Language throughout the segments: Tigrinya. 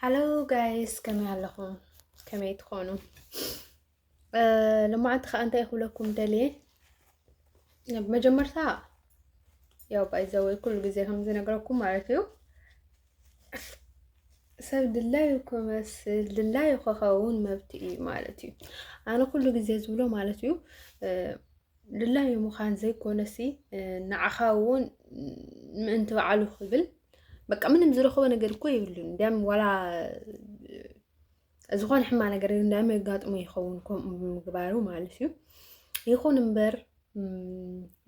ሃሎ ጋይስ ከመይ ኣለኹም? ከመይ ትኾኑ? ልማዓንቲ ከዓ እንታይ ክብለኩም ደልየ መጀመርታ ያው ባይዘወይ ኩሉ ግዜ ከምዝነግረኩም ማለት እዩ ሰብ ድላዩ ክመስል ድላዩ ክኸውን መብት እዩ ማለት እዩ። ኣነ ኩሉ ግዜ ዝብሎ ማለት እዩ ድላዩ ምዃን ዘይኮነሲ ንዓኻ እውን ምእንቲ በዓሉ ክብል በቃ ምንም ዝረኸበ ነገር እኮ የብሉን እንዲያም ዋላ ዝኾነ ሕማ ነገር እንዲያም የጋጥሞ ይኸውን ከምኡ ምግባሩ ማለት እዩ ይኹን እምበር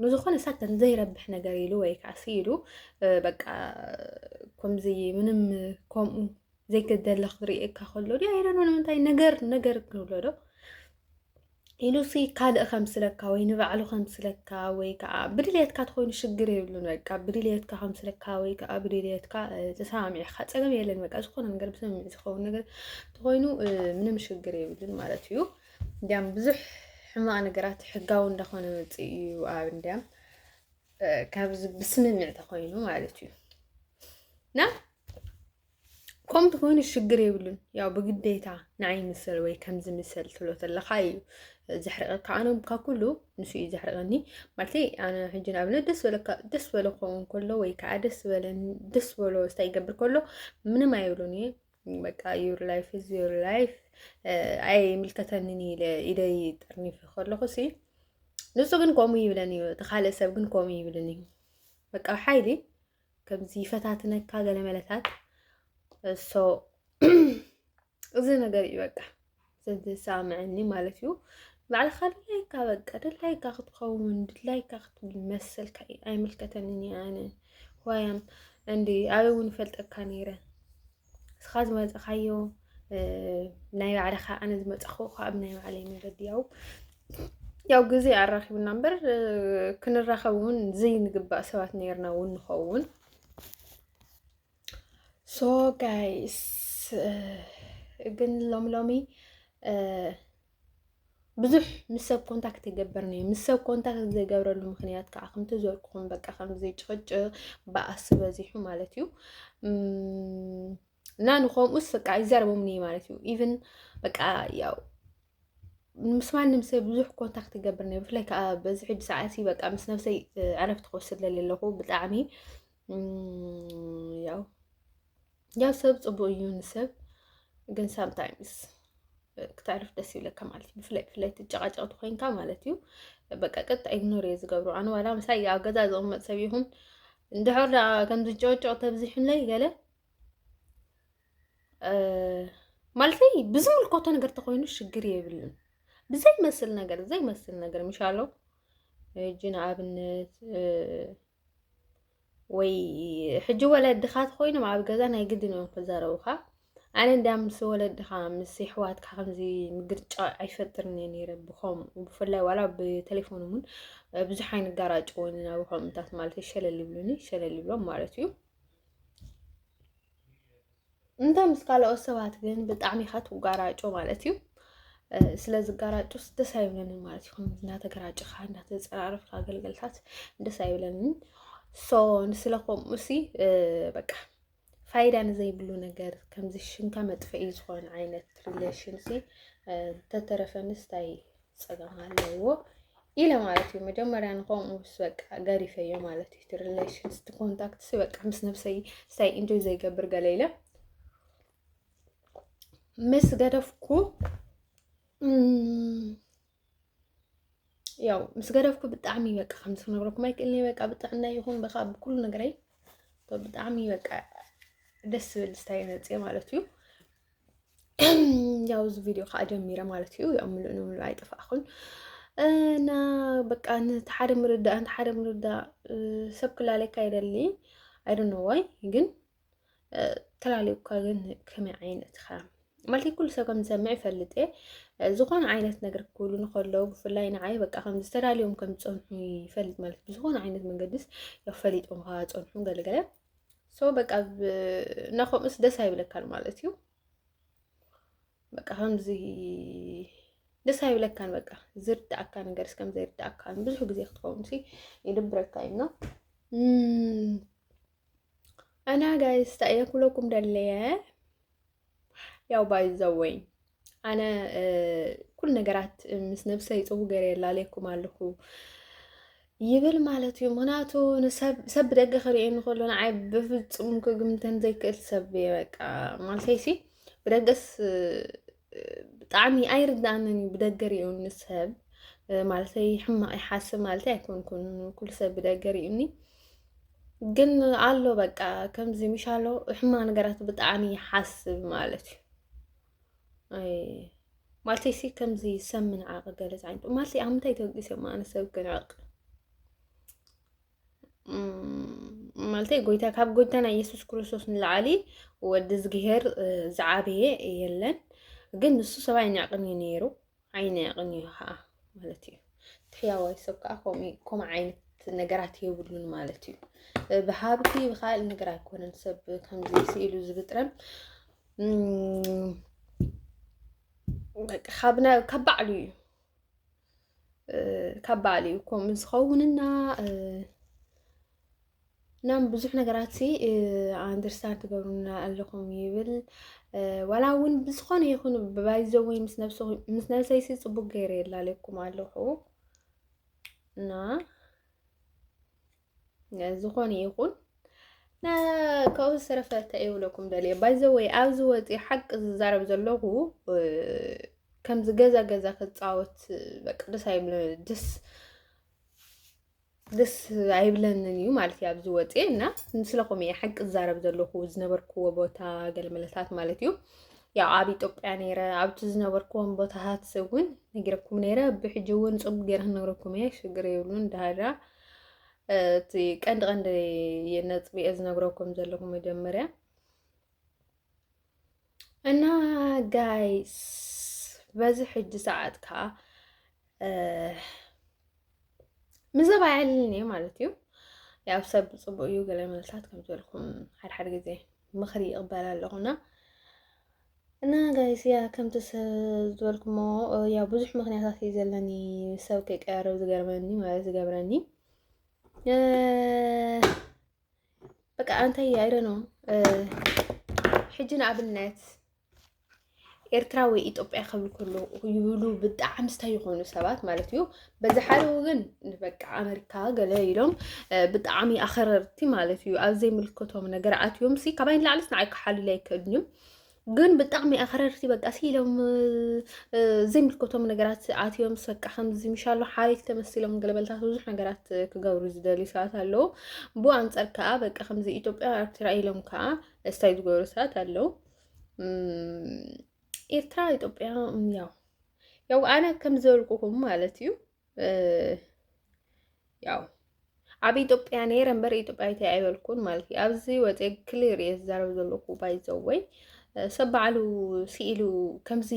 ንዝኾነ ሳተን ዘይረብሕ ነገር ኢሉ ወይ ከዓ ኢሉ በቃ ከምዚ ምንም ከምኡ ዘይክደለ ክትርእየካ ከሎ ዲ ኣይረኖ ንምንታይ ነገር ነገር ክንብሎ ዶ ኢሉሲ ካልእ ከምስለካ ወይ ንባዕሉ ከምስለካ ወይ ከዓ ብድልየትካ ትኮይኑ ሽግር የብሉን። በቃ ብድልየትካ ከምስለካ ወይ ከዓ ብድልየትካ ተሰማሚዕካ ፀገም የለን። በቃ ዝኾነ ነገር ብስምምዕ ዝኸውን ነገር ተኮይኑ ምንም ሽግር የብሉን ማለት እዩ። እንዲያም ብዙሕ ሕማቅ ነገራት ሕጋዊ እንዳኾነ መፅእ እዩ ኣብ እንዲያም ካብዚ ብስምምዕ ተኮይኑ ማለት እዩ እና ከምቲ ኮይኑ ሽግር የብሉን ያው ብግዴታ ንዓይ ምሰል ወይ ከምዚ ምሰል ትብሎ ተለካ እዩ ዘሕርቀካ ኣነ ካብ ኩሉ ንሱ እዩ ዘሕርቀኒ ማለት ኣነ ሕጂ ንኣብነት ደስ በለካ ደስ በሎ ክኸውን ከሎ ወይ ከዓ ደስ በለኒ ደስ በሎ ስታይ ይገብር ከሎ ምንም ኣይብሉን እየ በቃ ዩር ላይፍ ኢዝ ዩር ላይፍ ኣይ ምልከተንን ኢለ ኢደይ ጠርኒፊ ከለኹ ሲ ንሱ ግን ከምኡ ይብለኒ እዩ እቲ ካልእ ሰብ ግን ከምኡ ይብልን እዩ በቃ ሓይሊ ከምዚ ይፈታትነካ ገለ መለታት እሶ እዚ ነገር እዩ በቃ ዘንት ዝሰምዐኒ ማለት እዩ ባዕልኻ ድላይካ በቃ ድላይካ ክትኸውን ድላይካ ክትብል መሰልካ እዩ ኣይምልከተንን ኣነ ዋያም እንዲ ኣበይ እውን ፈልጠካ ነይረ እስኻ ዝመፀኻዮ ናይ ባዕልኻ ኣነ ዝመፀኹ ካብ ናይ ባዕለይ መገዲ ያው ያው ግዜ ኣራኪቡና እምበር ክንራኸብ እውን ዘይንግባእ ሰባት ነርና እውን ንኸውን ሶ ጋይስ ግን ሎሚ ሎሚ ብዙሕ ምስ ሰብ ኮንታክት ይገብር ነይ ምስ ሰብ ኮንታክት ዘይገብረሉ ምክንያት ከዓ ከምቲ ዝበልኩኹም በቃ ከምዚ ጭቕጭቕ በኣሲ በዚሑ ማለት እዩ እና ንከምኡስ በቃ ይዛረቦም ነይ ማለት እዩ ኢቨን በቃ ያው ምስ ማንም ሰብ ብዙሕ ኮንታክት ይገብር ነይ ብፍላይ ከዓ በዚ ሕጂ ሰዓት በቃ ምስ ነብሰይ ዕረፍቲ ክወስድ ለለኹ ብጣዕሚ ያው ያው ሰብ ፅቡቅ እዩ ንሰብ ግን ሳምታይምስ ክተዕርፍ ደስ ይብለካ ማለት እዩ ብፍላይ ብፍላይ ትጨቃጨቅቲ ኮይንካ ማለት እዩ በቃ ቀጥታ ኢግኖር እየ ዝገብሮ ኣነ ዋላ ምሳይ ኣብ ገዛ ዝቕመጥ ሰብ ይኹን እንድሕር ደኣ ከም ዝጨቅጨቅ ተብዚሑለይ ገለ ማለተይ ብዝምልከቶ ነገር ተኮይኑ ሽግር የብልን ብዘይመስል ነገር ዘይመስል ነገር ምሻሎ እጅ ንኣብነት ወይ ሕጂ ወለድኻ ተኮይኖም ኣብ ገዛ ናይ ግድን እዮም ክዛረቡኻ። ኣነ እንዳ ምስ ወለድኻ ምስ ይሕዋትካ ከምዚ ምግርጫ ኣይፈጥርን እየ ነይረ ብኸም ብፍላይ ዋላ ብቴሌፎን እውን ብዙሕ ኣይንጋራጭ ወይንና ብከምታት ማለት ሸለል ይብሉኒ ሸለል ይብሎም ማለት እዩ። እንተ ምስ ካልኦት ሰባት ግን ብጣዕሚ ኢኻ ትጓራጮ ማለት እዩ። ስለ ዝጋራጮስ ደስ ኣይብለንን ማለት እዩ። እናተገራጭኻ እናተፀራረፍካ ኣገልገልታት ደስ ኣይብለንን። ሶ ንስለ ከምኡ ሲ በቃ ፋይዳ ንዘይብሉ ነገር ከምዚ ሽምካ መጥፍኢ ዝኾነ ዓይነት ሪሌሽን ሲ ተተረፈንስ ታይ ፀገም ኣለዎ ኢለ ማለት እዩ መጀመርያ ንከምኡ ምስ በቃ ገሪፈዮ ማለት እዩ እቲ ሪሌሽንስ እቲ ኮንታክት ሲ በቃ ምስ ነብሰይ ስታይ ኢንጆይ ዘይገብር ገለ ኢለ ምስ ገደፍኩ ያው ምስ ገደፍኩ ብጣዕሚ በቃ ከምዚ ክነግረኩም ኣይክእልኒ በቃ ብጥዕና ይኹን በካ ብኩሉ ነገረይ ብጣዕሚ በቃ ደስ ዝብል ስታይ መፅእ ማለት እዩ ያው እዚ ቪድዮ ከዓ ጀሚረ ማለት እዩ ያው ምሉእ ንምሉእ ኣይጠፋእኹን እና በቃ ነቲ ሓደ ምርዳእ ነቲ ሓደ ምርዳእ ሰብ ክላለካ ይደሊ ኣይዶኖ ዋይ ግን ተላለዩካ ግን ከመይ ዓይነት ኢኻ ማለት ኩሉ ሰብ ከም ዝሰምዕ ይፈልጥ እየ ዝኾነ ዓይነት ነገር ክብሉ ንከለዉ ብፍላይ ንዓይ በቃ ከም ዝተዳልዮም ከም ዝፀንሑ ይፈልጥ ማለት ብዝኾነ ዓይነት መንገዲስ ያው ፈሊጦም ከዓ ፀንሑ ገለገለ ሰው በቃ ናኾምስ ደስ ኣይብለካን ማለት እዩ። በቃ ከምዚ ደስ ኣይብለካን በቃ ዝርዳእካ ነገር እስከም ዘይርዳእካ ብዙሕ ግዜ ክትኸውን ሲ ይድብረካ እዩ ና እና ጋይስ ታየ ኩለኩም ደለየ ያው ባይዘወይ ኣነ ኩሉ ነገራት ምስ ነብሰይ ፅቡ ገይረ የላለየኩም ኣለኹ ይብል ማለት እዩ። ምክንያቱ ሰብ ብደገ ክሪኦ ንከሎ ንዓይ ብፍፁም ክግምተን ዘይክእል ሰብ እየ። በቃ ማለተይሲ ብደገስ ብጣዕሚ ኣይርዳእንን እዩ ብደገ ሪኡኒ ሰብ ማለተይ ሕማቅ ይሓስብ ማለተይ ኣይኮንኩን ኩሉ ሰብ ብደገ ሪኡኒ ግን ኣሎ በቃ ከምዚ ምሻሎ ሕማ ነገራት ብጣዕሚ ይሓስብ ማለት እዩ ማለት ሲ ከምዚ ሰብ ምንዓቕ ገለፅ ዓይነቱ ማለት ኣብ ምንታይ ተወቂሰ ማነ ሰብ ክንዕቕ ማለት ጎይታ ካብ ጎይታና ኢየሱስ ክርስቶስ ንላዕሊ ወዲ ዝግሄር ዝዓበየ የለን ግን ንሱ ሰብኣይ ንዕቕን እዩ ነይሩ ዓይኒ ኣቕንዩ ከዓ ማለት እዩ። ሕያዋይ ሰብ ከዓ ከምኡ ዓይነት ነገራት የብሉን ማለት እዩ። ብሃብቲ ብካልእ ነገር ኣይኮነን ሰብ ከምዚ ስኢሉ ዝብጥረን ካብ ባዕሉ እዩ ካብ ባዕሉ እዩ ከምኡ ዝኸውንና ናም ብዙሕ ነገራት ሲ ኣንደርስታንድ ትገብሩና ኣለኹም ይብል ዋላ እውን ብዝኾነ ይኹን ብባይዘዊ ምስ ነብሰይሲ ፅቡቅ ገይረ የላለኩም ኣለኹ እና ዝኾነ ይኹን ካብኡ ዝተረፈ እንታይ ይብለኩም ደልየ ባይዘወይ ኣብዚ ወፂ ሓቂ ዝዛረብ ዘለኹ ከምዚ ገዛ ገዛ ክፃወት በቃ ደስ ኣይብለ ደስ ደስ ኣይብለንን እዩ ማለት እዩ ኣብዚ ወፅኤ እና ስለኹም እየ ሓቂ ዝዛረብ ዘለኹ ዝነበርክዎ ቦታ ገለመለታት ማለት እዩ ያው ኣብ ኢትዮጵያ ነይረ ኣብቲ ዝነበርክዎም ቦታታት እውን ነጊረኩም ነይረ ብሕጂ እውን ፅቡቅ ገይረ ክነግረኩም እየ ሽግር የብሉን ዳሃራ እቲ ቀንዲ ቀንዲ ነጥቢ እየ ዝነግረኩም ዘለኹ መጀመርያ እና ጋይስ በዚ ሕጂ ሰዓት ከዓ ምዘባ ያልን እየ ማለት እዩ። ያው ሰብ ፅቡቅ እዩ ገለ መልሳት ከም ዝበልኩም ሓድሓድ ግዜ ምኽሪ ይቕበል ኣለኹና እና ጋይስ ያ ከምቲ ዝበልኩሞ ያው ብዙሕ ምክንያታት እዩ ዘለኒ ሰብ ከይቀያረብ ዝገርመኒ ማለት ዝገብረኒ በቃ እንታይ ኣይረ ነው ሕጂ ንኣብነት ኤርትራ ወይ ኢትዮጵያ ክብል ከሎ ይብሉ ብጣዕሚ ስታይ ይኾኑ ሰባት ማለት እዩ። በዚ ሓደ ወገን በቃ ኣመሪካ ገለ ኢሎም ብጣዕሚ ኣኸረርቲ ማለት እዩ። ኣብ ዘይምልከቶም ነገር ኣትዮም ሲ ካባይ ንላዕሊስ ንዓይ ክሓልሉ ኣይክእሉን እዮም። ግን ብጣዕሚ ኣኽረርቲ በቃ ሲሎም ዘይምልከቶም ነገራት ኣትዮም ሰቃ ከምዚ ምሻሎ ሓሪፍ ተመሲሎም ገለበልታት ብዙሕ ነገራት ክገብሩ ዝደልዩ ሰባት ኣለዉ ብኡ ኣንፃር ከዓ በቃ ከምዚ ኢትዮጵያ ኤርትራ ኢሎም ከዓ እስታይ ዝገብሩ ሰባት ኣለዉ ኤርትራ ኢትዮጵያ ያው ያው ኣነ ከም ዝበልኩኹም ማለት እዩ ያው ኣብ ኢትዮጵያ ነይረ እምበር ኢትዮጵያዊት ኣይበልኩን ማለት እዩ ኣብዚ ወፀ ክሊር እየ ዝዛረብ ዘለኩ ባይዘወይ ሰብ ባዕሉ ስኢሉ ከምዚ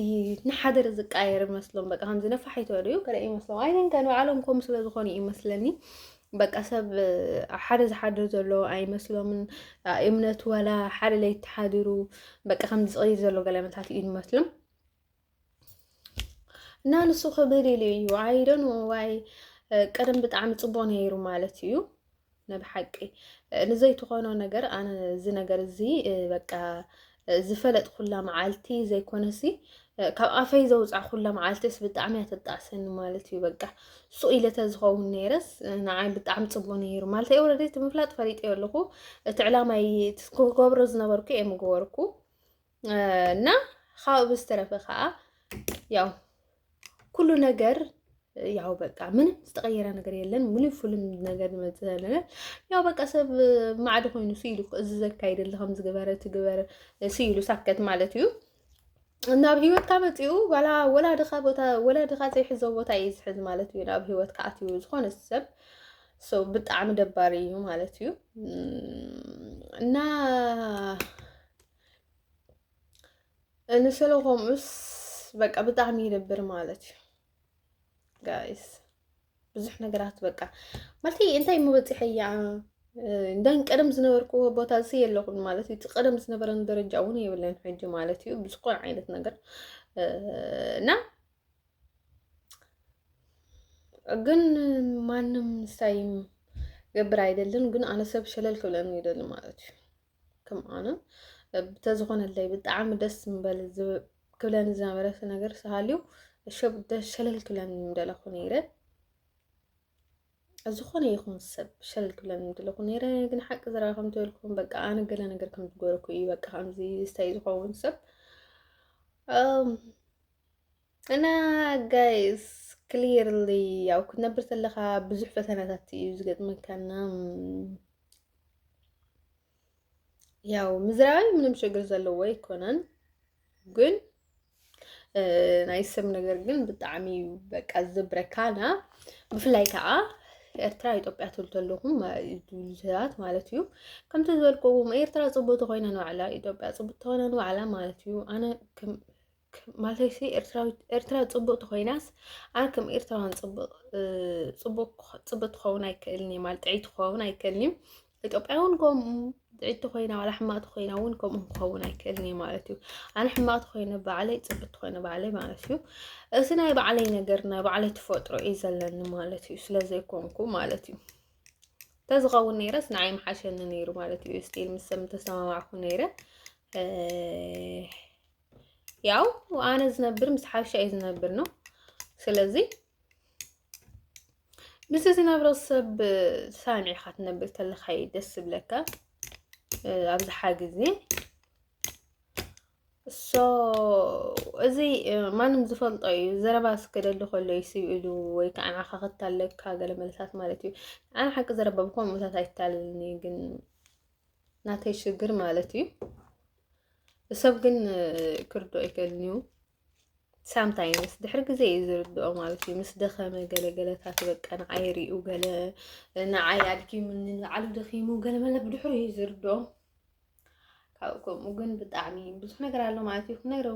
ንሓደር ዝቃየር መስሎም በቃ ከምዚ ነፋሒቶ ድዩ ገለ ይመስሎም ኣይንከ ንባዕሎም ከምኡ ስለ ዝኾኑ እዩ ይመስለኒ በቃ ሰብ ኣብ ሓደ ዝሓድር ዘሎ ኣይመስሎምን እምነቱ ዋላ ሓደ ለይቲ ሓዲሩ በቃ ከምዚ ዝቕይር ዘሎ ገለመታት እዩ ይመስሎም እና ንሱ ክብል ኢሉ እዩ ኣይዶን ዋይ ቀደም ብጣዕሚ ፅቡቅ ነይሩ ማለት እዩ ንብሓቂ ንዘይትኾኖ ነገር ኣነ እዚ ነገር እዚ በቃ ዝፈለጥኩላ መዓልቲ ዘይኮነሲ ካብ ኣፈይ ዘውፃዕኩላ መዓልቲስ ብጣዕሚ እያ ተጣዕሰኒ ማለት እዩ በቃ ሱቅ ኢለ ተዝኸውን ነይረስ ንዓይ ብጣዕሚ ፅቡቅ ነይሩ ማለት እዩ ወረደ እቲ ምፍላጥ ፈሊጠዮ ኣለኹ እቲ ዕላማይ ክገብሮ ዝነበርኩ እየ ምገበርኩ እና ካብኡ ብዝተረፈ ከዓ ያው ኩሉ ነገር ያው በቃ ምንም ዝተቀየረ ነገር የለን። ሙሉ ፍሉም ነገር ዝመፅእ ዘለና ያው በቃ ሰብ ማዕዲ ኮይኑ ስኢሉ እዚ ዘካይድ ኣለኹም ዝገበረ ትግበረ ስኢሉ ሳከት ማለት እዩ እና ኣብ ሂወትካ መፂኡ ዋላ ወላድኻ ቦታ ወላድኻ ዘይሕዞ ቦታ እዩ ዝሕዝ ማለት እዩ ናብ ሂወትካ ኣትዩ ዝኾነ ሰብ ሰው ብጣዕሚ ደባሪ እዩ ማለት እዩ እና ንስለ ከምኡስ በቃ ብጣዕሚ ይደብር ማለት እዩ ጋይስ ብዙሕ ነገራት በቃ ማለት እንታይ መበፂሐ እያ እንደን ቀደም ዝነበርክዎ ቦታ እዚ የለኹን ማለት እዩ። እቲ ቀደም ዝነበረን ደረጃ እውን የብለን ሕጂ ማለት እዩ ብዝኾነ ዓይነት ነገር እና ግን ማንም ሳይም ገብር ኣይደልን ግን ኣነ ሰብ ሸለል ክብለኒ ይደሊ ማለት እዩ። ከምኣነ ብተዝኾነለይ ብጣዕሚ ደስ ምበል ክብለኒ ዝነበረ ነገር ስሃልዩ ሸብ ደስ ሸለል ክብለኒ ምደለኹ ነይረ ዝኾነ ይኹን ሰብ ሸለል ክብለኒ ምደለኹ ነይረ ግን ሓቂ ዝረኣ ከም ትበልኩም በቃ ኣነ ገለ ነገር ከም ዝገበርኩ እዩ በቃ ከምዚ ስታይ ዝኸውን ሰብ እና ጋይስ ክሊርሊ ያው ክትነብር ተለካ ብዙሕ ፈተናታት እዩ ዝገጥመካና ያው ምዝራባይ ምንም ችግር ዘለዎ ኣይኮነን ግን ናይ ሰብ ነገር ግን ብጣዕሚ እዩ በቃ ዝብረካና ብፍላይ ከዓ ኤርትራ ኢትዮጵያ ትብሉ ተለኹም ሰባት ማለት እዩ ከምቲ ዝበልክዎም ኤርትራ ፅቡቅ ተኮይና ንባዕላ ኢትዮጵያ ፅቡቅ ተኮይና ንባዕላ ማለት እዩ ኣነ ማለተይሲ ኤርትራ ፅቡቅ ተኮይናስ ኣነ ከም ኤርትራውያን ፅቡቅ ትኸውን ኣይክእልን እዩ ማለት ጥዕይ ትኸውን ኣይክእልን እዩ ኢትዮጵያ እውን ከምኡ ጥዕይ ተኮይና ዋላ ሕማቅ ተኮይና እውን ከምኡ ክኸውን ኣይክእልን እዩ ማለት እዩ ኣነ ሕማቅ ተኮይነ ባዕለይ ፅቡቅ ተኮይነ ባዕለይ ማለት እዩ እዚ ናይ ባዕለይ ነገር ናይ ባዕለይ ተፈጥሮ እዩ ዘለኒ ማለት እዩ ስለዘይኮንኩ ማለት እዩ ተዝኸውን ነይረስ ንዓይ ምሓሸኒ ነይሩ ማለት እዩ ስቲል ምስ ሰብ ተሰማማዕኩ ነይረ ያው ኣነ ዝነብር ምስ ሓበሻ እዩ ዝነብር ነው። ስለዚ ምስ ዝነብሮ ሰብ ሳምዒ ኢኻ ትነብር ተለካ እዩ ደስ ዝብለካ ኣብዝሓ ግዜ እሶ እዚ ማንም ዝፈልጦ እዩ ዘረባ ስከደሉ ከሎ እዩ ስብ ኢሉ ወይ ከዓ ንዓኻ ክታለካ ገለ መልሳት ማለት እዩ ኣነ ሓቂ ዘረባ ብኮምኡታት ኣይታልልኒ ግን ናተይ ሽግር ማለት እዩ ሰብ ግን ክርድኦ ኣይክእልን እዩ ሳምታይምስ ድሕሪ ግዜ እዩ ዝርድኦ ማለት እዩ ምስ ደኸመ ገለገለታት በቃ ንዓይ ሪኡ ገለ ንዓይ ኣድኪሙኒ ንባዕሉ ደኺሙ ገለ መለ ብድሕሪ እዩ ዝርድኦ ካብኡ ከምኡ ግን ብጣዕሚ ብዙሕ ነገር ኣሎ ማለት እዩ ክነግረ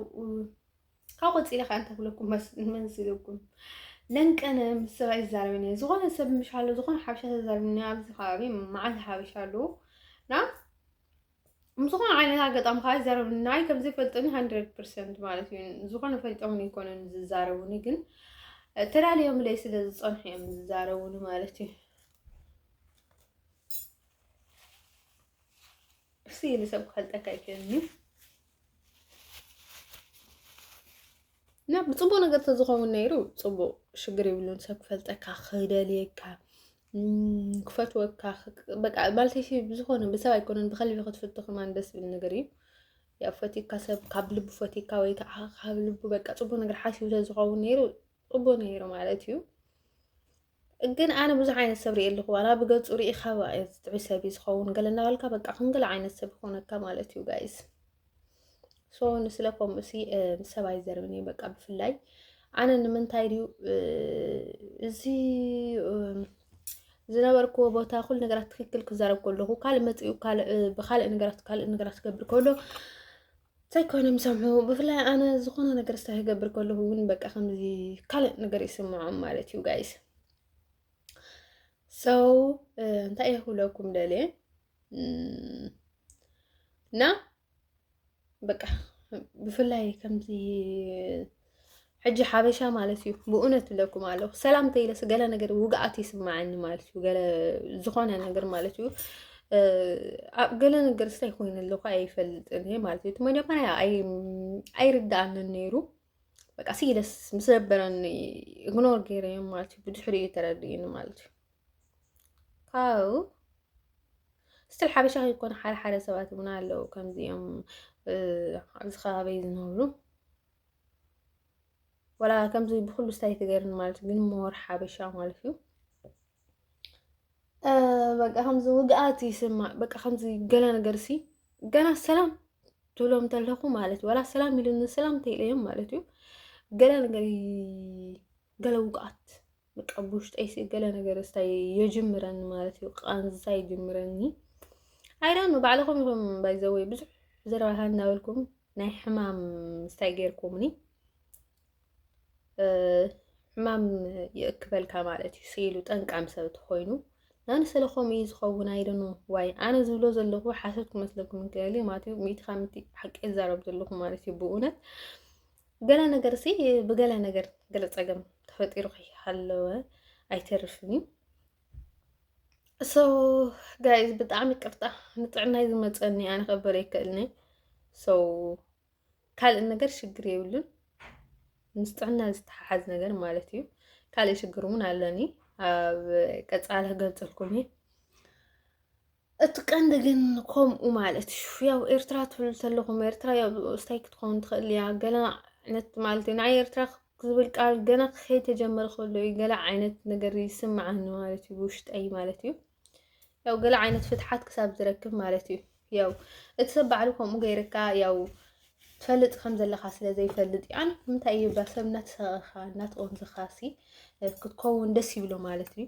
ካብ ቆፂለ ከዓ እንተክለኩም መስልኩም ለንቀነ ምስ ሰብ ኣይዛረብን እየ ዝኾነ ሰብ ምሻሎ ዝኾነ ሓበሻ ተዛርብኒ ኣብዚ ከባቢ መዓልቲ ሓበሻ ኣለዉ እና ምስ ዝኾነ ዓይነት ኣጋጣሚ ከዓ ይዛረቡ ናይ ከም ዘይፈልጦኒ ሃንድረድ ፐርሰንት ማለት እዩ ዝኾነ ፈልጦምን ይኮነን ዝዛረቡኒ ግን ተላለዮምለይ ስለ ዝፀንሑ እዮም ዝዛረቡኒ ማለት እዩ እሱ ይልሰብ ክፈልጠካ ይክእልኒ እና ብፅቡቅ ነገር ተዝኸውን ነይሩ ፅቡቅ ሽግር ይብሉን ሰብ ክፈልጠካ ክደልየካ ክፈትወካ በቃ ማለተይሲ ብዝኾነ ብሰብ ኣይኮነን ብከልቢ ክትፍቱ ከማን ደስ ዝብል ነገር እዩ ያው ፈቲካ ሰብ ካብ ልቡ ፈቲካ ወይ ከዓ ካብ ልቡ በቃ ፅቡቅ ነገር ሓሲቡ ተዝኸውን ነይሩ ፅቡቅ ነይሩ ማለት እዩ ግን ኣነ ብዙሕ ዓይነት ሰብ ሪኤ ኣለኹ ዋላ ብገጹ ርኢኻ ጥዑይ ሰብ እዩ ዝኸውን ገለ እናበልካ በቃ ከምገለ ዓይነት ሰብ ይኾነካ ማለት እዩ ጋይስ ሶ ንስለ ከምኡ ሲ ሰብ ኣይዘርብን እዩ በቃ ብፍላይ ኣነ ንምንታይ ድዩ እዚ ዝነበርክዎ ቦታ ኩሉ ነገራት ትክክል ክዛረብ ከለኹ ካልእ መፂኡ ብካልእ ነገራት ካልእ ነገራት ክገብር ከሎ ዘይኮይኖም ሰምዑ ብፍላይ ኣነ ዝኾነ ነገር ስታ ክገብር ከለሁ እውን በቃ ከምዚ ካልእ ነገር ይስምዖም ማለት እዩ ጋይስ ሰው እንታይ እየ ክብለኩም ደልየ እና በቃ ብፍላይ ከምዚ ሕጂ ሓበሻ ማለት እዩ ብእውነት ብለኩም ኣለኹ ሰላም ተይለስ ገለ ነገር ውግኣት ይስማዓኒ ማለት እዩ ገለ ዝኾነ ነገር ማለት እዩ ኣብ ገለ ነገር ስታይ ኮይኑ ኣለኹ ኣይፈልጥን እየ ማለት እዩ እቲ መጀመርያ ኣይርዳኣንን ነይሩ በቃ ሲለስ ምስ ነበረኒ እግኖር ገይረ እዮም ማለት እዩ ብድሕሪ እዩ ተረድእኒ ማለት እዩ ካብኡ ስትል ሓበሻ ከይኮነ ሓደ ሓደ ሰባት እውን ኣለዉ ከምዚኦም ኣብዚ ከባቢ ዝነብሩ ወላ ከምዚ ብኩሉ ስታይ ትገርኒ ማለት ግን ሞር ሓበሻ ማለት እዩ በቃ ከምዚ ውግኣት ይስማዕ በቃ ከምዚ ገለ ነገር ሲ ገና ሰላም ትብሎም ተለኹ ማለት እዩ ወላ ሰላም ኢሉ ንሰላም ተይለዮም ማለት እዩ ገለ ነገር ገለ ውግኣት በቃ ብውሽጠይ ሲ ገለ ነገር እስታይ የጅምረኒ ማለት እዩ ቃንዛ ይጅምረኒ ኣይዳኑ ባዕልኹም ኢኹም ባይዘወይ ብዙሕ ዘረባታ እናበልኩም ናይ ሕማም ስታይ ገይርኩምኒ ሕማም ይእክበልካ ማለት እዩ ስኢሉ ጠንቃም ሰብ ተኮይኑ ናን ስለኮም እዩ ዝኸውን ኣይደኑ ዋይ ኣነ ዝብሎ ዘለኹ ሓሶት ክመስለኩም እንክእል ማለት እዩ ሚእቲ ካብ ሚእቲ ሓቂ ይዛረብ ዘለኹ ማለት እዩ ብእውነት ገለ ነገር ሲ ብገለ ነገር ገለ ፀገም ተፈጢሩ ከይሃለወ ኣይተርፍን እዩ እሶ ጋይዝ ብጣዕሚ ቅርጣ ንጥዕናይ ዝመፀኒ ኣነ ከበረ ይክእልኒ ሶ ካልእ ነገር ሽግር የብሉን ምስ ጥዕና ዝተሓሓዝ ነገር ማለት እዩ ካልእ ሽግር እውን ኣለኒ ኣብ ቀፃሊ ክገልፀልኩም እየ እቲ ቀንዲ ግን ከምኡ ማለት እዩ ያው ኤርትራ ትብሉ ተለኹም ኤርትራ ያው ስታይ ክትኸውን ትኽእል እያ ገለ ዓይነት ማለት እዩ ንዓይ ኤርትራ ዝብል ቃል ገና ከይተጀመረ ከሎ እዩ ገለ ዓይነት ነገር ይስምዓኒ ማለት እዩ ብውሽጠይ ማለት እዩ ያው ገለ ዓይነት ፍትሓት ክሳብ ዝረክብ ማለት እዩ ያው እቲ ሰብ ባዕሉ ከምኡ ገይርካ ያው ትፈልጥ ከም ዘለካ ስለ ዘይፈልጥ እዩ ኣነ ንምንታይ እዩ ባሰብ እናተሰቐኻ እናተቆንዝኻ ሲ ክትከውን ደስ ይብሎ ማለት እዩ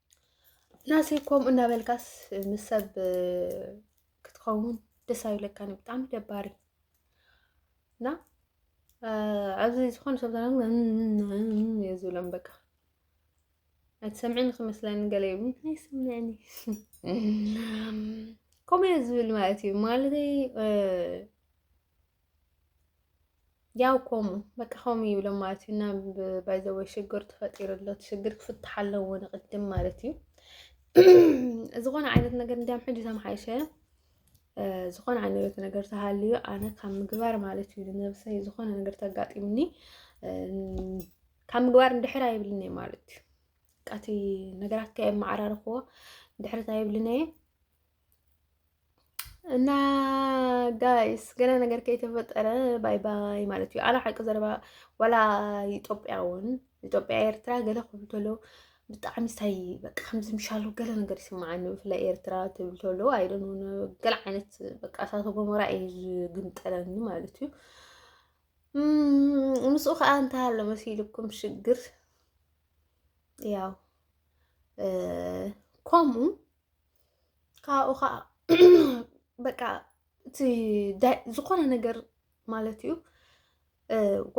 ናሰይ ከምኡ እናበልካስ ምስ ሰብ ክትኸውን ደስ ኣይብለካን እዩ ብጣዕሚ ደባሪ እና ኣብዚ ዝኾነ ሰብ እየ ዝብሎም በቃ ኣይትሰምዕን ክመስለኒ ገለ ይብሉ ኣይሰምዕን ከምኡ እየ ዝብል ማለት እዩ ማለተይ ያው ኮሙ በቃ ኮሙ ይብሎም ማለት እዩ እና ባይዘወ ሽግር ተፈጢሩ ኣሎ ሽግር ክፍትሓ ኣለዎ ንቅድም ማለት እዩ ዝኾነ ዓይነት ነገር እንዲያም ሕጂ ተመሓይሸ ዝኾነ ዓይነት ነገር ተሃልዩ ኣነ ካብ ምግባር ማለት እዩ ንነብሰይ ዝኾነ ነገር ተጋጢምኒ ካብ ምግባር እንድሕር ኣይብልን እየ ማለት እዩ ቃቲ ነገራት ከየመዓራርኽዎ ድሕርት ኣይብልን እየ እና ጋይስ ገና ነገር ከይተፈጠረ ባይ ባይ ማለት እዩ። ኣላ ሓቂ ዘረባ ዋላ ኢትዮጵያ እውን ኢትዮጵያ ኤርትራ ገለ ክብል ተሎ ብጣዕሚ ስታይ በቃ ከምዚ ምሻሉ ገለ ነገር ይስምዓኒ ብፍላይ ኤርትራ ትብል ተሎ ኣይደን ገለ ዓይነት በቃ እሳተ ጎመራ እዩ ዝግምጠለኒ ማለት እዩ። ምስኡ ከዓ እንታይ ኣሎ መሲልኩም ሽግር ያው ከምኡ ካብኡ ከዓ በቃ እቲ ዝኾነ ነገር ማለት እዩ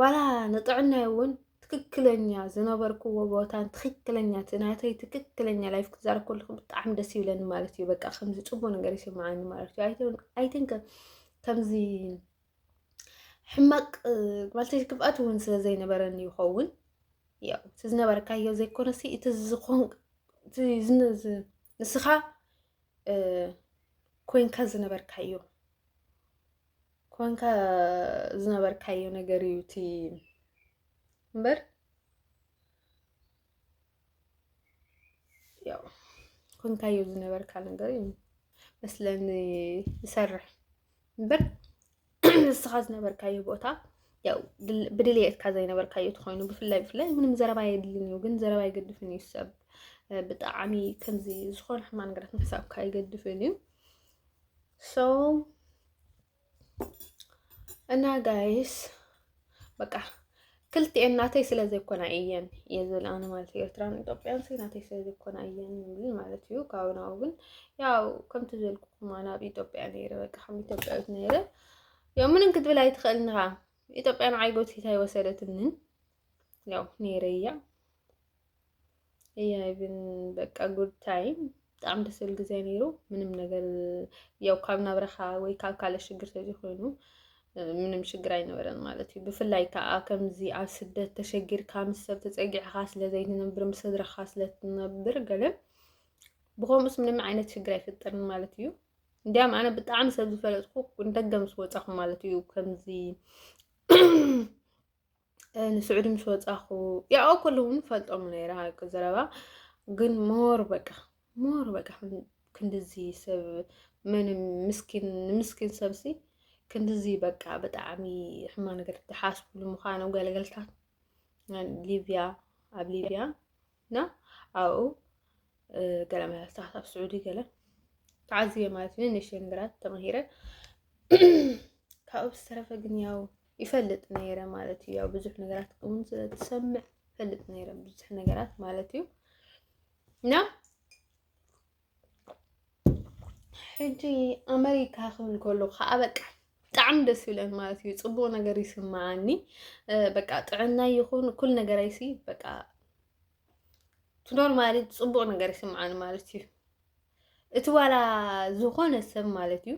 ዋላ ንጥዕናይ እውን ትክክለኛ ዝነበርክዎ ቦታን ትክክለኛ እቲ ናተይ ትክክለኛ ላይፍ ክዛረብ ከለኩ ብጣዕሚ ደስ ይብለኒ ማለት እዩ። በቃ ከምዚ ፅቡቅ ነገር ይስመዐኒ ማለት እዩ ኣይትንከ ከምዚ ሕማቅ ማለት ክፍኣት እውን ስለ ዘይነበረኒ ይኸውን ያው እቲ ዝነበረካዮ ዘይኮነሲ እቲ ዝኾን ንስኻ ኮንካ ዝነበርካዮ ኮንካ ዝነበርካዮ ነገር እዩ እቲ እምበር ያው ኮንካዮ ዝነበርካ ነገር እዩ መስለኒ ዝሰርሕ እምበር ንስኻ ዝነበርካዮ ቦታ ያው ብድልየትካ ዘይነበርካዮ ትኾይኑ ብፍላይ ብፍላይ ምንም ዘረባ የድልን እዩ ግን ዘረባ ይገድፍን እዩ ሰብ ብጣዕሚ ከምዚ ዝኾነ ሕማ ነገራት ምሕሳብካ ይገድፍን እዩ ሶ እና ጋይስ በቃ ክልቲኤን ናተይ ስለ ዘይኮና እየን እየ ዝብል ኣነ ማለት እዩ ኤርትራን ኢትዮጵያን ሲ ናተይ ስለ ዘይኮና እየን ዝብል ማለት እዩ ካብኡ ናብኡ ግን ያው ከምቲ ዝበልኩኩም ኣነ ኣብ ኢትዮጵያ ነይረ በቃ ከም ኢትዮጵያዊት ነይረ ያው ምንም ክትብል ኣይትኽእልን ኢኻ ኢትዮጵያ ንዓይ ጎቲታ ኣይወሰደትንን ያው ነይረያ እያ ይብን በቃ ጉድ ታይም ብጣዕሚ ደስ ዝብል ግዜ ነይሩ። ምንም ነገር ያው ካብ ናብረኻ ወይ ካብ ካልእ ሽግር ተዘይኮይኑ ምንም ሽግር ኣይነበረን ማለት እዩ። ብፍላይ ከዓ ከምዚ ኣብ ስደት ተሸጊርካ ምስ ሰብ ተፀጊዕኻ ስለዘይትነብር ምስ ስድራኻ ስለትነብር ገለ ብኸምኡስ ምንም ዓይነት ሽግር ኣይፈጠርን ማለት እዩ። እንዲያም ኣነ ብጣዕሚ ሰብ ዝፈለጥኩ እንደገ ምስ ወፃኹ ማለት እዩ ከምዚ ንስዑዲ ምስ ወፃኹ ያኦ ኩሉ እውን ፈልጦም ነይረ ሃቂ ዘረባ ግን ሞር በቃ ሞር በቃ ክንድዚ ሰብ ምንም ምስኪን ንምስኪን ሰብሲ ክንድዚ በቃ ብጣዕሚ ሕማ ነገር ትሓስብሉ ምዃኑ ገለገልታት ሊብያ ኣብ ሊብያ እና ኣብኡ ገለ መለስታት ኣብ ስዑዲ ገለ ተዓዝየ ማለት እዩ ንእሽተይ ነገራት ተማሂረ ካብኡ ዝተረፈ ግን ያው ይፈልጥ ነይረ ማለት እዩ። ያው ብዙሕ ነገራት እውን ስለትሰምዕ ይፈልጥ ነይረ ብዙሕ ነገራት ማለት እዩ እና ሕጂ ኣመሪካ ክብል ከሎ ከዓ በቃ ብጣዕሚ ደስ ይብለን ማለት እዩ። ፅቡቅ ነገር ይስማዓኒ በቃ ጥዕና ይኹን ኩል ነገር ኣይሲ በቃ ትኖር ማለት ፅቡቅ ነገር ይስማዓኒ ማለት እዩ። እቲ ዋላ ዝኾነ ሰብ ማለት እዩ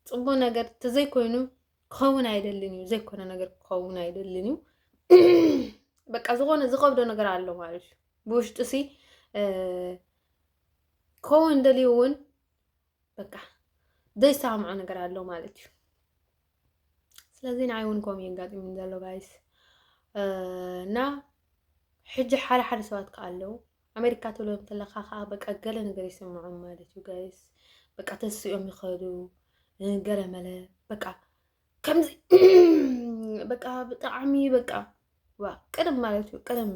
ፅቡቅ ነገር ተዘይኮይኑ ክኸውን ኣይደልን እዩ ዘይኮነ ነገር ክኸውን ኣይደልን እዩ በቃ ዝኾነ ዝኸብዶ ነገር ኣሎ ማለት እዩ ብውሽጡ ሲ ክኸውን ደልዩ እውን በቃ ዘይሰማምዖ ነገር ኣሎ ማለት እዩ ስለዚ ንዓይ እውን ከምኡ የጋጢሙ ዘሎ ጋይስ እና ሕጂ ሓደ ሓደ ሰባት ከዓ ኣለዉ ኣሜሪካ ትብሎ እንተለካ ከዓ በቃ ገለ ነገር ይስምዖም ማለት እዩ ጋይስ በቃ ተስኦም ይኸዱ ገለ መለ በቃ ከምዚ በቃ ብጣዕሚ በቃ ዋ ቅርብ ማለት እዩ ቅርብ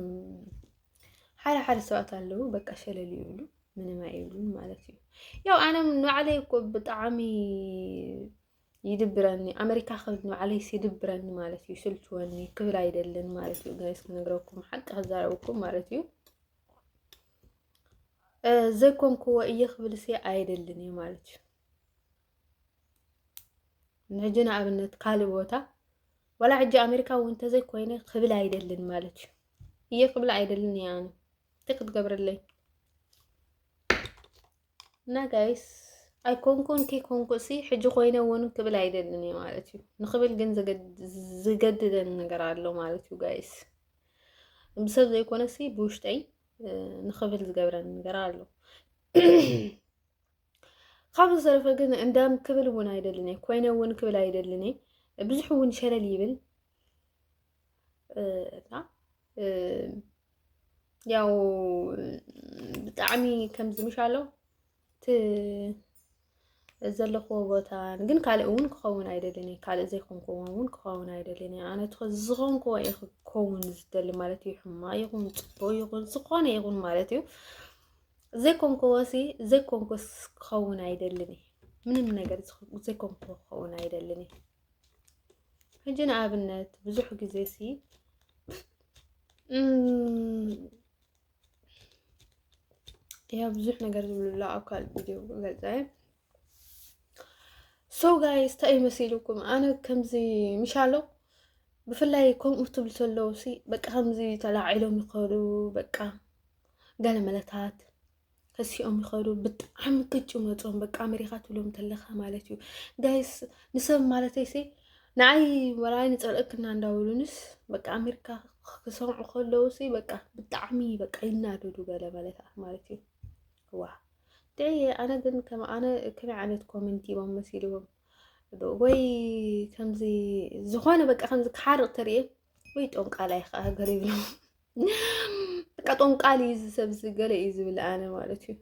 ሓደ ሓደ ሰባት ኣለዉ በቃ ሸለል ይብሉ ምንም ኣይብሉን ማለት እዩ ያው ኣነ ንባዕለይ እኮ ብጣዕሚ ይድብረኒ ኣመሪካ ክብል ንባዕለይስ ይድብረኒ ማለት እዩ ስልችወኒ ክብል ኣይደልን ማለት እዩ ጋይስ ክነግረኩም ሓቂ ክዛረብኩም ማለት እዩ ዘይኮንኩዎ እየ ክብል ሲ ኣይደልን እዩ ማለት እዩ ንሕጂ ንኣብነት ካልእ ቦታ ዋላ ሕጂ ኣሜሪካ እውን እንተዘይኮይነ ክብል ኣይደልን ማለት እዩ እየ ክብል ኣይደልን እየ ኣነ እንታይ ክትገብረለይ እና ጋይስ ኣይኮንኩን ከይኮንኩሲ ሕጂ ኮይነ እውን ክብል ኣይደልን እዩ ማለት እዩ ንክብል ግን ዝገድደን ነገር ኣሎ ማለት እዩ ጋይስ ብሰብ ዘይኮነሲ ብውሽጠይ ንክብል ዝገብረን ነገር ኣሎ ካብ ዝተረፈ ግን እንዳም ክብል እውን ኣይደልን እየ ኮይነ እውን ክብል ኣይደልን እየ ብዙሕ እውን ሸለል ይብል እና ያው ብጣዕሚ ከምዚ ምሽ ኣሎ እቲ ዘለኽዎ ቦታ ግን ካልእ እውን ክኸውን ኣይደልን እየ ካልእ ዘይኮንኩዎ እውን ክኸውን ኣይደልን እየ ኣነ እቲ ዝኾንኩዎ እየ ክኸውን ዝደሊ ማለት እዩ ሕማቅ ይኹን ፅቡቅ ይኹን ዝኾነ ይኹን ማለት እዩ ዘይኮንኩዎሲ ዘይኮንኩስ ክኸውን ኣይደልን እየ ምንም ነገር ዘይኮንኩዎ ክኸውን ኣይደልን እየ ሕጂ ንኣብነት ብዙሕ ግዜ ሲ ያ ብዙሕ ነገር ዝብሉላ ኣብ ካልእ ቪድዮ ገልፀ ሰው ጋይስ እንታይ መሲልኩም ኣነ ከምዚ ምሻሎ ብፍላይ ከምኡ ትብሉ ዘለዉ ሲ በቃ ከምዚ ተላዒሎም ይኸዱ በቃ ገለ መለታት ከሲኦም ይኸዱ ብጣዕሚ ቅጭ መፆም በቃ ኣሜሪካ ትብሎም ተለካ ማለት እዩ ጋይስ ንሰብ ማለተይ ሲ ንዓይ ወላኣይ ንፀልእክና እንዳብሉንስ በቃ ኣሜሪካ ክሰምዑ ከለዉ ሲ በቃ ብጣዕሚ በቃ ይናደዱ ገለ መለታት ማለት እዩ ዋ ደይ ኣነ ግን ከም ኣነ ከመይ ዓይነት ኮመንቲ ቦም መሲልዎም ወይ ከምዚ ዝኾነ በቃ ከምዚ ክሓርቕ ተርእየ ወይ ጦንቃላይ ከዓ ገር ይብሎም በቃ ጦንቃል እዩ ዝሰብ ዝገለ እዩ ዝብል ኣነ ማለት እዩ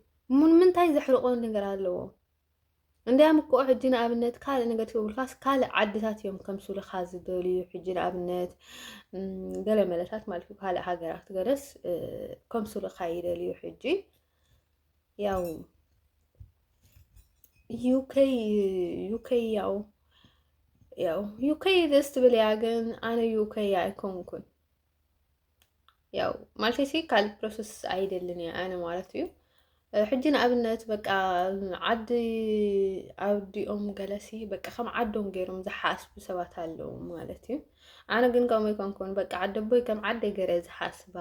ምንታይ ዘሕርቆ ነገር ኣለዎ እንዲያም እኮ ሕጂ ንኣብነት ካልእ ነገር ትብልካስ ካልእ ዓድታት እዮም ከምስሉካ ዝደልዩ ሕጂ ንኣብነት ገለ መለታት ማለት እዩ ካልእ ሃገራት ገለስ ከምስሉካ ይደልዩ ሕጂ ያው ዩከይ ዩከይ ያው ያው ዩከይ ደስ ትብል እያ ግን ኣነ ዩከይ ኣይኮንኩን ያው ማለት ሲ ካልእ ፕሮሰስ ኣይደልን እየ ኣነ ማለት እዩ ሕጂ ንኣብነት በቃ ዓዲ ኣብዲኦም ገለሲ በቃ ከም ዓዶም ገይሮም ዝሓስቡ ሰባት ኣለዉ ማለት እዩ ኣነ ግን ከምኡ ኣይኮንኩን በቃ ዓደቦይ ከም ዓደይ ገረ ዝሓስባ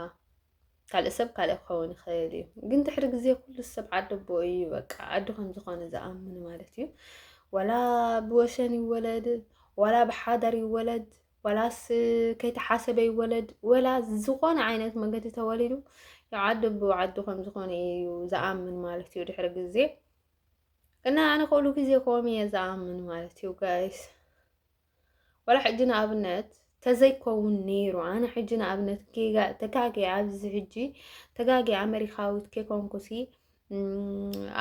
ካልእ ሰብ ካልእ ክኸውን ይኽእል እዩ ግን ድሕሪ ግዜ ኩሉ ሰብ ዓደቦ እዩ በቃ ዓዱ ከም ዝኾነ ዝኣምን ማለት እዩ ዋላ ብወሰን ይወለድ ዋላ ብሓዳር ይወለድ ዋላስ ከይተሓሰበ ይወለድ ወላ ዝኾነ ዓይነት መንገዲ ተወሊዱ ዓዱ ብዓዱ ከም ዝኾነ እዩ ዝኣምን ማለት እዩ ድሕሪ ግዜ እና ኣነ ከሉ ግዜ ከምኡ እየ ዝኣምን ማለት እዩ ጋይስ ወላ ሕጂ ንኣብነት ተዘይከውን ነይሩ ኣነ ሕጂ ንኣብነት ተጋጊ ኣብዚ ሕጂ ተጋጊ ኣሜሪካዊት ከይኮንኩሲ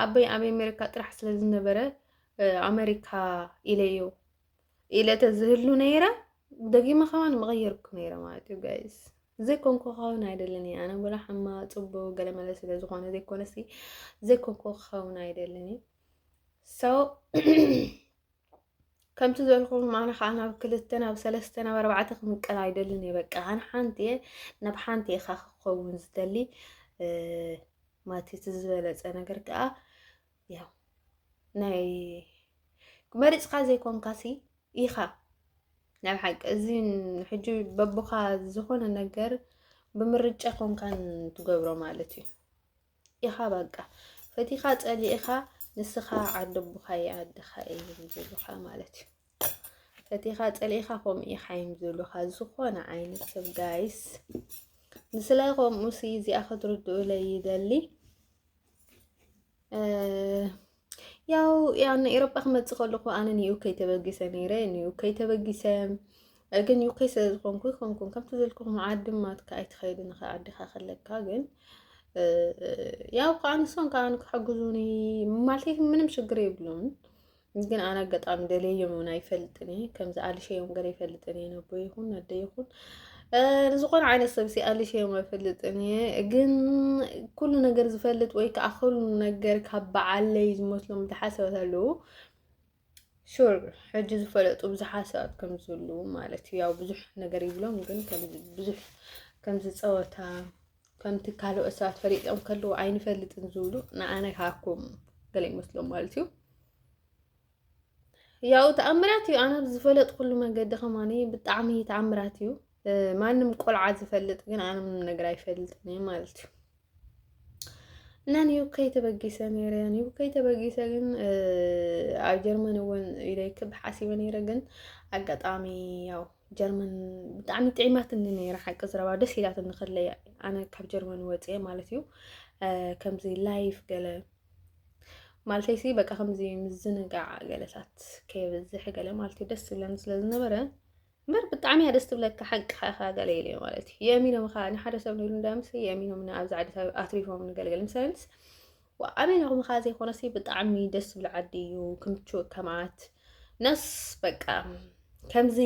ኣበይ ኣብ ኣሜሪካ ጥራሕ ስለ ዝነበረ ኣሜሪካ ኢለዮ ኢለ ተዝህሉ ነይረ ደጊመ ከማን ምቐየርኩ ነይረ ማለት እዩ ጋይስ ዘይኮንኩ ክኸውን ኣይደልን እየ ኣነ ወላ ሓማ ፅቡቅ ገለመለ ስለ ዝኾነ ዘይኮነሲ ዘይኮንኩ ክኸውን ኣይደልን እዩ ሰው ከምቲ ዘልኩም ኣነ ከዓ ናብ ክልተ ናብ ሰለስተ ናብ ኣርባዕተ ክምቀል ኣይደልን እየ በቃ ኣነ ሓንቲ እየ ናብ ሓንቲ ኢኻ ክኸውን ዝደሊ ማትቲ ዝበለፀ ነገር ከዓ ያው ናይ መሪፅካ ዘይኮንካሲ ኢኻ ናይ ሓቂ እዚ ሕጂ በቦኻ ዝኾነ ነገር ብምርጫ ኮንካን ትገብሮ ማለት እዩ ኢኻ በቃ ፈቲኻ ፀሊእኻ ንስኻ ዓዲ ኣቦኻ እየ ዓድኻ እየ ዝብሉኻ ማለት እዩ ፈቲኻ ፀሊእኻ ከምኡ ኢኻ እዮም ዝብሉኻ ዝኾነ ዓይነት ሰብ ጋይስ ምስላይ ከምኡ ሲ እዚኣ ክትርድኡለይ ይደሊ ያው ያው ንኤሮጳ ክመፅእ ከለኹ ኣነ ንዩከ ተበጊሰ ነይረ ንዩከ ተበጊሰ ግን ዩከ ስለ ዝኾንኩ ይኾንኩን ከምቲ ዘልኩኹም ዓዲ ማትካ ኣይትኸይድን ኸ ዓድኻ ከለካ ግን ያው ከዓ ንሶም ከዓ ክሕግዙኒ ማለት ምንም ሽግር የብሉን ግን ኣነ ኣጋጣሚ ደለዮም እውን ኣይፈልጥን እየ ከምዚ ኣልሸዮም ገለ ይፈልጥን እየ ነቦ ይኹን ነደ ይኹን ንዝኾነ ዓይነት ሰብ ሲ ኣልሸዮም ኣይፈልጥን እየ ግን ኩሉ ነገር ዝፈልጥ ወይ ከዓ ኩሉ ነገር ካብ በዓለይ ዝመስሎም ዝሓሰበት ኣለዉ ሹር ሕጂ ዝፈለጡ ብዙሓት ሰባት ከም ዘለዉ ማለት እዩ ያው ብዙሕ ነገር ይብሎም ግን ብዙሕ ከምዚ ፀወታ ከምቲ ካልኦት ሰባት ፈሊጦም ከለዉ ኣይንፈልጥን ዝብሉ ንኣነ ካብኩም ገለ ይመስሎም ማለት እዩ ያው ተኣምራት እዩ ኣነ ዝፈለጥኩሉ መንገዲ ከማኒ ብጣዕሚ ተኣምራት እዩ ማንም ቆልዓ ዝፈልጥ ግን ኣነ ምንም ነገር ኣይፈልጥን እዩ ማለት እዩ እና ኒው ከይተበጊሰ ነይረ ኒው ከይተበጊሰ ግን ኣብ ጀርመን እውን ኢለይ ክብ ሓሲበ ነይረ ግን ኣጋጣሚ ያው ጀርመን ብጣዕሚ ጥዒማትኒ ነይረ ሓቂ ዝረባ ደስ ኢላትኒ ከለይ ኣነ ካብ ጀርመን ወፅአ ማለት እዩ ከምዚ ላይፍ ገለ ማለተይ ሲ በቃ ከምዚ ምዝንጋዕ ገለታት ከየብዝሕ ገለ ማለት እዩ ደስ ዝብለኒ ስለ ዝነበረ እምበር ብጣዕሚ እያ ደስ ትብለካ ሓቅካ ኢካ ገለ ኢለ ማለት እዩ የእሚኖም ከ ንሓደ ሰብ ንኢሉ እንዳምስ የእሚኖም ንኣብዛ ዓዲ ኣትሪፎም ንገልገል ምሳሌንስ ኣሜኖም ከ ዘይኮነሲ ብጣዕሚ ደስ ዝብል ዓዲ እዩ ክምችወካ ማለት ነስ በቃ ከምዚ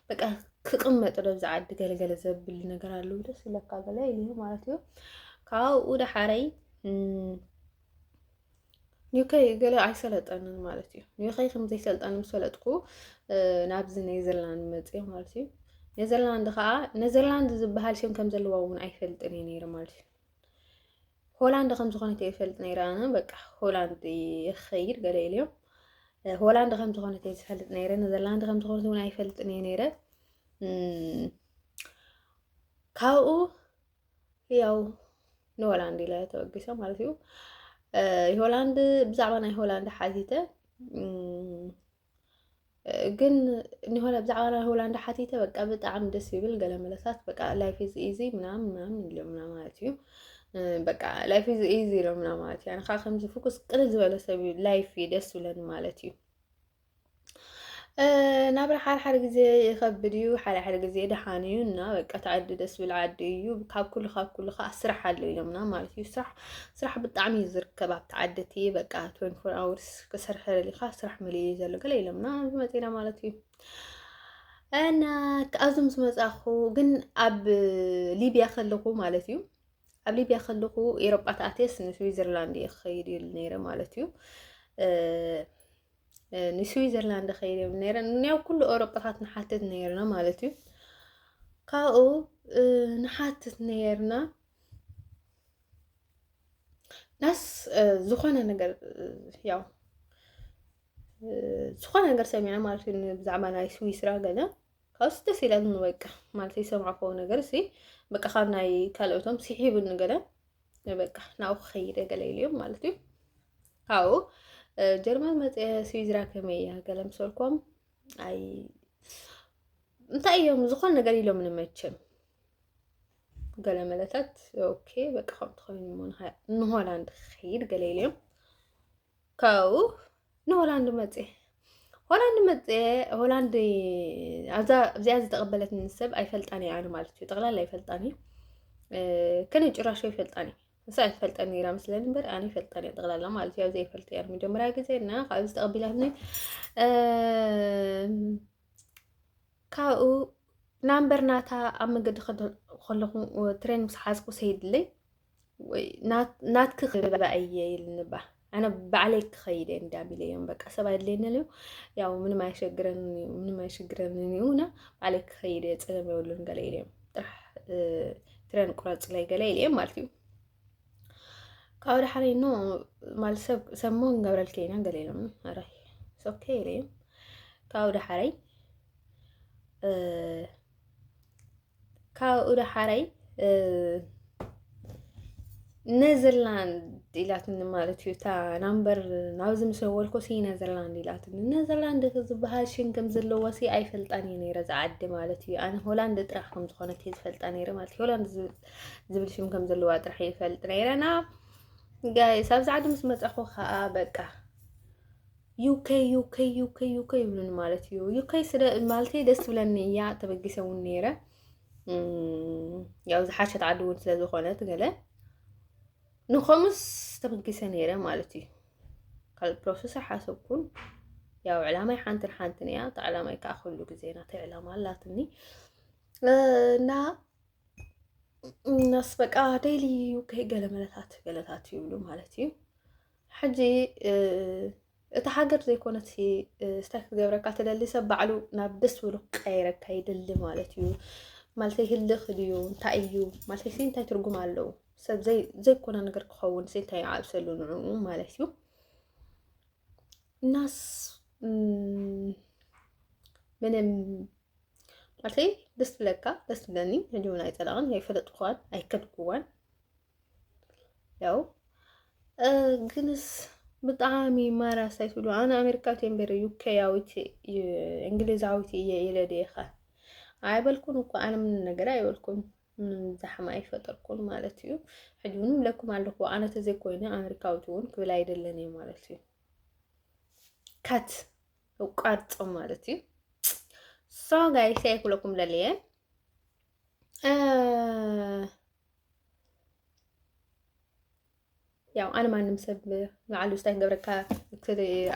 በቃ ክቕመጥ ዶ ብዛ ዓዲ ገለገለ ዘብል ነገር ኣሉ ደስ ይለካ ገለ ኢሉ ማለት እዩ ካብኡ ዳሓረይ ኒከይ ገለ ኣይሰለጠንን ማለት እዩ ኒከይ ከምዘይሰልጠን ምስ ፈለጥኩ ናብዚ ኔዘርላንድ መፅዮ ማለት እዩ ኔዘርላንድ ከዓ ኔዘርላንድ ዝበሃል ሽም ከም ዘለዎ እውን ኣይፈልጥን እዩ ነይሩ ማለት እዩ ሆላንድ ከም ዝኾነት እየ ዝፈልጥ ነይረ ኣነ በቃ ሆላንድ ይኸይድ ገለ ኢልዮም ሆላንድ ከም ዝኾነት እየ ዝፈልጥ ነይረ ነዘርላንድ ከም ዝኾነት እውን ኣይፈልጥን እየ ነይረ ካብኡ ያው ንሆላንድ ኢለ ተበጊሶ ማለት እዩ ሆላንድ ብዛዕባ ናይ ሆላንድ ሓቲተ ግን ሆነ ብዛዕባ ናይ ሆላንድ ሓቲተ በቃ ብጣዕሚ ደስ ይብል ገለ መለሳት በቃ ላይፍ ኢዝ ኢዚ ምናምን ምናምን ኢሎምና ማለት እዩ በቃ ላይፍ ኢዝ ኢዚ ኢሎምና ማለት እዩ ኣነ ከዓ ከምዚ ፍኩስ ቅል ዝበለ ሰብ እዩ ላይፍ እዩ ደስ ይብለኒ ማለት እዩ ናብራ ሓድሓደ ግዜ ይኸብድ እዩ ሓድሓደ ግዜ ደሓን እዩ እና በቃ ተዓዲ ደስ ዝብል ዓዲ እዩ ካብ ኩሉ ካብ ኩሉ ከዓ ስራሕ ኣሎ ኢሎምና ማለት እዩ ስራሕ ስራሕ ብጣዕሚ እዩ ዝርከብ ኣብቲ ዓዲ እቲ በቃ ትወንቲ ፎር ኣወርስ ክሰርሕ ደሊካ ስራሕ መሊኡ እዩ ዘሎ ገለ ኢሎምና ዝመፅና ማለት እዩ እና ካብዞም ዝመፃኹ ግን ኣብ ሊብያ ከለኹ ማለት እዩ ኣብ ሊብያ ከለኹ ኤሮጳ ተኣትየስ ንስዊዘርላንድ እየ ክኸይድ ይብል ነይረ ማለት እዩ ንስዊዘርላንድ ኸይድ ይብል ነይረ ያው ኩሉ ኤሮጳታት ንሓትት ነይርና ማለት እዩ ካብኡ ንሓትት ነይርና ናስ ዝኾነ ነገር ያው ዝኾነ ነገር ሰሚዐ ማለት እዩ ብዛዕባ ናይ ስዊስራ ገለ ካብስ ደስ ኢለን በቃ ማለት ዝሰማዕኮ ነገር እዚ በቃ ካብ ናይ ካልኦቶም ስሒብኒ ገለ በቃ ናብኡ ክኸይደ ገለ ኢልዮም ማለት እዩ ካብኡ ጀርመን መፀ ስዊዝራ ከመይ እያ ገለ ምሰልኮም ኣይ እንታይ እዮም ዝኾነ ነገር ኢሎም ንመቸም ገለ መለታት ኦኬ በቃ ከምቲ ኮይኑ እሞ ንሆላንድ ክኸይድ ገለ ኢሎም ካብኡ ንሆላንድ መፀ ሆላንድ መፀ ሆላንድ ኣዛ እዚኣ ዝተቐበለትኒ ሰብ ኣይፈልጣን እየ ኣነ ማለት እዩ ጠቕላላ ኣይፈልጣን እዩ ከነ ጭራሽ ኣይፈልጣን እዩ ንሳ ኣይትፈልጠን ነይራ ምስለኒ እምበር ኣነ ይፈልጠን እየ ጠቕላላ ማለት እዩ ኣብ ዘይፈልጥ እያ መጀመርያ ግዜ እና ካብዚ ተቐቢላትኒ ካብኡ ናምበር ናታ ኣብ መገዲ ከለኹ ትሬን ምስ ሓዝኩ ሰይድለይ ናትክ ክበባ እየ ይልንባ ኣነ ባዕለይ ክኸይደ እንዳ ቢለዮም በቃ ሰብ ኣድለየኒ ልዩ ያው ምንም ኣይሸግረን ምንም ኣይሸግረን እዩ እና ባዕለይ ክኸይደ ፀገም የብሉን ገለ ኢለዮም ጥራሕ ትሬን ቁረፅለይ ገለ ኢለዮም ማለት እዩ ካብኡ ድሓር ኖ ማለት ሰብ ሰብ ሞ ንገብረልኪ ኢና ገለ ኢሎም ኣረይ ሶኬ ኢለ ካብኡ ድሓረይ ካብኡ ድሓረይ ነዘርላንድ ኢላትኒ ማለት እዩ እታ ናምበር ናብዚ ምስ ደወልኩ ሲ ነዘርላንድ ኢላትኒ ነዘርላንድ ዝበሃል ሽም ከም ዘለዎ ሲ ኣይፈልጣን እየ ነይረ ዝዓዲ ማለት እዩ ኣነ ሆላንድ ጥራሕ ከም ዝኾነት እየ ዝፈልጣ ነይረ ማለት እዩ ሆላንድ ዝብል ሽም ከም ዘለዋ ጥራሕ ይፈልጥ ነይረና ጋይስ ኣብዚ ዓዲ ምስ መፀኹ ከዓ በቃ ዩከ ዩከ ዩከ ዩከ ይብሉን ማለት እዩ ዩከ ስለ ማለት ደስ ብለኒ እያ ተበጊሰ እውን ነይረ ያው ዝሓሸት ዓዲ እውን ስለ ዝኾነት ገለ ንኸምስ ተበጊሰ ነይረ ማለት እዩ ካልእ ፕሮሰስ ሓሰብኩን ያው ዕላማይ ሓንትን ሓንትን እያ እቲ ዕላማይ ከዓ ኩሉ ግዜ ናተይ ዕላማ ኣላትኒ እና እነስ በቃ ደይሊ ከይ ገለ መለታት ገለታት ይብሉ ማለት እዩ ሕጂ እቲ ሃገር ዘይኮነት ስታይ ክትገብረካ ትደሊ ሰብ ባዕሉ ናብ ደስ ብሉ ቀይረካ ይደሊ ማለት እዩ ማለት ህልኽ ድዩ እንታይ እዩ ማለት ሲ እንታይ ትርጉም ኣለዉ ሰብ ዘይኮነ ነገር ክኸውን ሲ እንታይ ይዓብሰሉ ንዕኡ ማለት እዩ እናስ ምንም ማለተይ ደስ ብለካ ደስ ብለኒ ህልውን ኣይፀላቕን ኣይፈለጥኳን ኣይከድኩዋን ያው ግንስ ብጣዕሚ ማራ ሳይትብሉ ኣነ ኣሜሪካ ቴምበረ ዩከያዊት እንግሊዛዊት እየ ኢለ ዲኻ ኣይበልኩን እኮ ኣነ ምንም ነገር ኣይበልኩም ምንም ዛሕማ ኣይፈጠርኩን ማለት እዩ ሕጂ እውን ብለኩም ኣለኹ ኣነ ተዘይኮይነ ኣሜሪካዊት እውን ክብል ኣይደለን እየ ማለት እዩ ካት እቋርጾ ማለት እዩ ሶ ጋይስ ኣይኩለኩም ለልየ ያው ኣነ ማንም ሰብ ንዓሉ ስታይ ገብረካ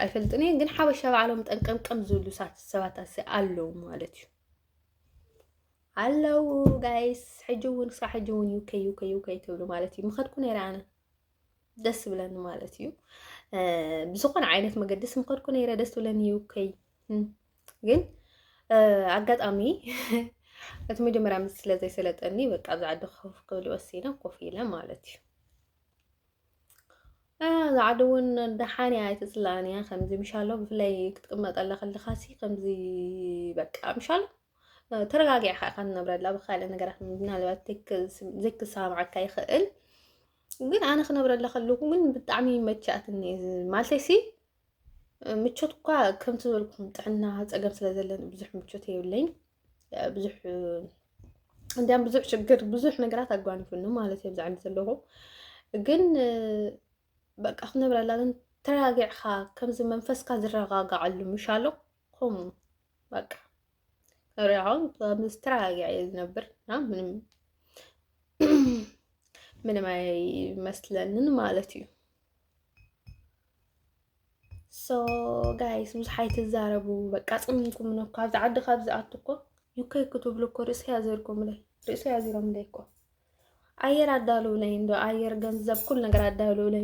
ኣይፈልጥን እየ ግን ሓበሻ ባዕሎም ጠንቀምቀም ዝብሉ ሰባት ኣለዉ ማለት እዩ ኣለዉ ጋይስ ሕጂ እውን ክሳብ ሕጂ እውን ዩከ ዩከ ዩከ ትብሉ ማለት እዩ ምኸድኩ ነይረ ኣነ ደስ ብለኒ ማለት እዩ። ብዝኾነ ዓይነት መገዲ ስምኸድኩ ነይረ ደስ ብለኒ እዩ ከይ ግን ኣጋጣሚ እቲ መጀመርያ ምስ ስለ ዘይሰለጠኒ በቃ ኣብዚ ዓዲ ኮፍ ክብል ወሲነ ኮፍ ኢለ ማለት እዩ እዛ ዓዲ እውን ደሓን እያ ኣይትፅላእን እያ ከምዚ ምሻሎ ብፍላይ ክትቅመጥ ኣለካ ኣለካሲ ከምዚ በቃ ምሻሎ ተረጋጊዕካ ኢካ ትነብረላ ብካልእ ነገራት ምናልባት ዘይክሰማዓካ ይኽእል ግን ኣነ ክነብረላ ከለኩ ግን ብጣዕሚ መቻትኒ ማለተይሲ ምቾት እኳ ከምቲ ዝበልኩም ጥዕና ፀገም ስለ ዘለኒ ብዙሕ ምቾት የብለኝ ብዙሕ እንዲያም ብዙሕ ችግር ብዙሕ ነገራት ኣጓኒፉኒ ማለት እየ ብዛዕኒ ዘለኹ ግን በቃ ክነብረላ ግን ተረጋጊዕካ ከምዚ መንፈስካ ዝረጋጋዓሉ ምሻሎ ኹም በቃ ሪ አሁን በአምስት ተረጋጋ ነበር እና ምንም ምንም አይመስለንን ማለት እዩ። ሶ ጋይስ ብዙሕ ኣይትዛረቡ በቃ ጽሚንኩም ነው ካብዚ ዓዲ ካብዚ ኣቱ እኮ ዩከይ ክትብሉ እኮ ርእሲ ያዘርኩምለይ ርእሲ ያዚሮምለይ እኮ ኣየር ኣዳልውለይ እንዶ ኣየር ገንዘብ ኩል ነገር ኣዳልውለይ